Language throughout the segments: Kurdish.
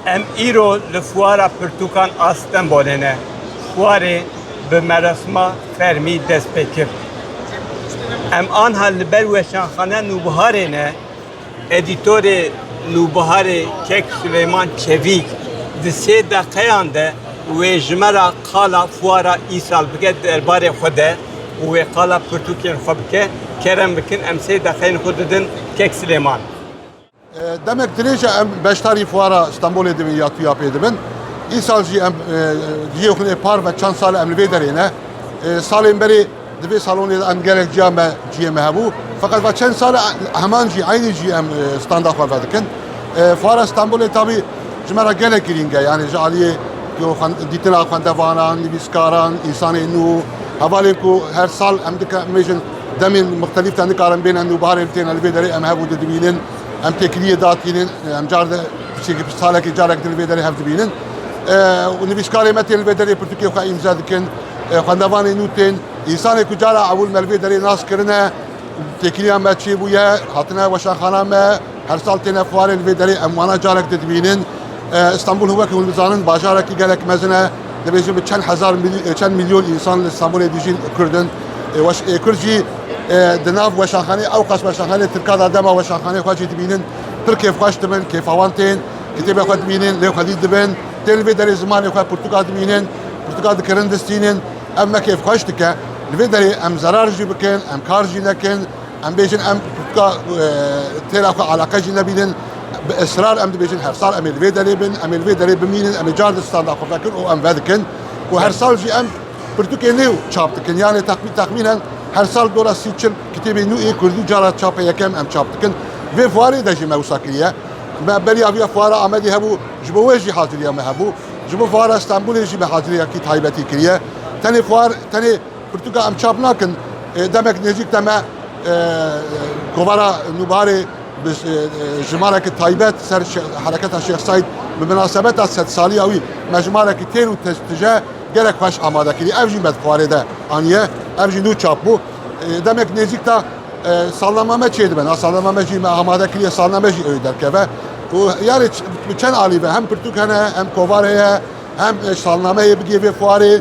Em îro li fuara pirtûkan a Stenbolê ne. Fuarê bi merasima fermî dest pê kir. Em anha li ber weşanxane Nûbiharê ne edîtorê Nûbiharê Kek Suleyman Çevîk di sê deqeyan de wê jimera qala fuara îsal bike derbarê xwe de û wê qala pirtûkên xwe bike, kerem bikin em sê deqeyên xwe didin kek Silêman. Demek dirêje em beşdarî fuara Stenbolê dibin ya tuya pê dibin. Îsal jî em cihê xwe nê par ve çend sal e em li vê derê ne. Salên berê di vê salonê de em gelek ciya me cihê me hebû. Feqet va çend sal e heman cî eynî cî em standa xwe vedikin. Fuara Stenbolê tabî Ji me re gelek girîng e yanî ji aliyê dîtina xwendevanan, nivîskaran, însanên nû hevalên ku her sal em dike mêjin demên muxtelîf te nikarin bêne nû barên têne li vê derê em hebû didibînin em têkiliyê datînin em car de piçekî piç salekî carek din li vê derê hev dibînin û nivîskarê me tên li vê derê pirtûkê xwe îmza dikin xwendevanê nû tên însanê ku cara ewil me li vê derê nas kirine têkiliya me çêbûye hatine weşanxana me Her sal têne fuarê li vê derê em wana carek di dibînin. Stenbul wek hûn dizanin bajarekî gelek mezin e. Dibêjin bi çend hezar çend milyon însan li Stenbulê dijîn Kurd in. Weş ê Kurd jî di nav weşanxanê ew qas weşanxanê Tirka da dema weşanxanê xwe jî dibînin pir kêfxweş dibin, kêfa wan tên, kitêbê xwe dibînin, lê xwedî dibin. Tên li vê derê zimanê xwe pirtûka dibînin, pirtûka dikirin distînin. Ev me kêfxweş dike. Li vê derê em zerar jî bikin, em kar jî nekin. Em bêjin em ka têra ku eleqe jî nebînin bi israr em dibêjin her sal em ê li vê derê bin, em ê li vê derê bimînin, em ê car di standa xwe vekin û em vedikin ku her sal jî em pirtûkê nê çap dikin. Yanê teqmî teqmînen her sal dora sî çil kitêbê nû ê Kurdî cara çape yekem em çap dikin. Vê fuarê de jî me wisa kiriye. Me beriya viya fuara Amedê hebû ji bo wê jî haziriya me hebû. Ji bo fuara Stenbolê jî me haziriyekî taybetî kiriye. Tenê fuar tenê Pirtûka em çap nakin demek nêzîk te me kovara nûbarê bi jimarekî taybet ser hereketa Şêx Saîd bi minasebeta sedsaliya wî me jimarekî têr û tije gelek xweş amade kirî. Ev jî me di xwarê de aniye. Ev jî nû çap bû. Demek nêzîk te salnama me çê dibe. Salnama me jî me amade kiriye salname jî ewî derkeve. û yarê bi çend alî be hem pirtûk hene hem kovara ye hem salnameyê bigê vê xwarê.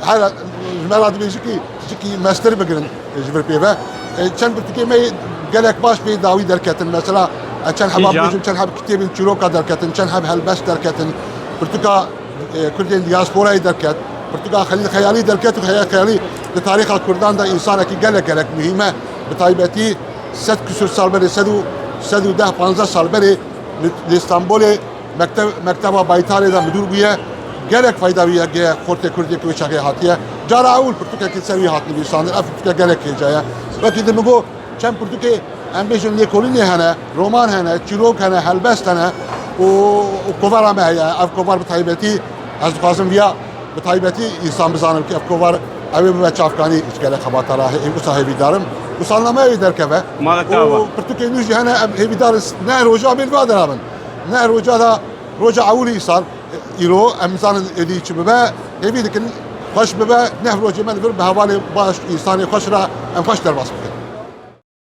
Her ji me re dibêjin ki cikî mestir bigirin ji vir pê ve. Çend pirtûkê me gelek baş pê dawî derketin. Mesela çend heba bêjin, çend heb kitêbên çîroka derketin, çend heb helbest derketin. Pirtûka Kurdên diasporayê derket. Pirtûka Xelîl Xeyalî derket û Xelîl Xeyalî di tarîxa Kurdan de însanekî gelek gelek muhîm e. Bi taybetî sed kisûr sal berê sed û sed û deh panzdeh sal berê li Stenbolê Mekteb, Mekteba Baytarê de midûr bûye. Gelek feyda wî yekê ye, xortê Kurdê ki wê çexê hatiye. Cara ewil pirtûkekê ser wî hat nivîsandin. Ev pirtûke gelek hêja ye. Wekî di min got, çend pirtûkê em bêjin lêkolînê hene, roman hene, çîrok hene, helbest hene û û kovara me heye. Ev kovar bi taybetî ez dixwazim vîya bi taybetî însan bizanim ki ev kovar ewê bibe çavkanî ji gelek xebata re. Hê wisa hêvî dar im û salnameyê wê derkeve. Mala ka û va. pirtûkên nû jî hene em hêvî dar in ne roja bê li va de rabin. Ne rojada roja ewilî sal îro em nizanin êdî çi bibe, hêvî dikin xweş bibe, neh rojê me li vir bi hevalê baş û îsanê xweş re em xweş derbas bikin.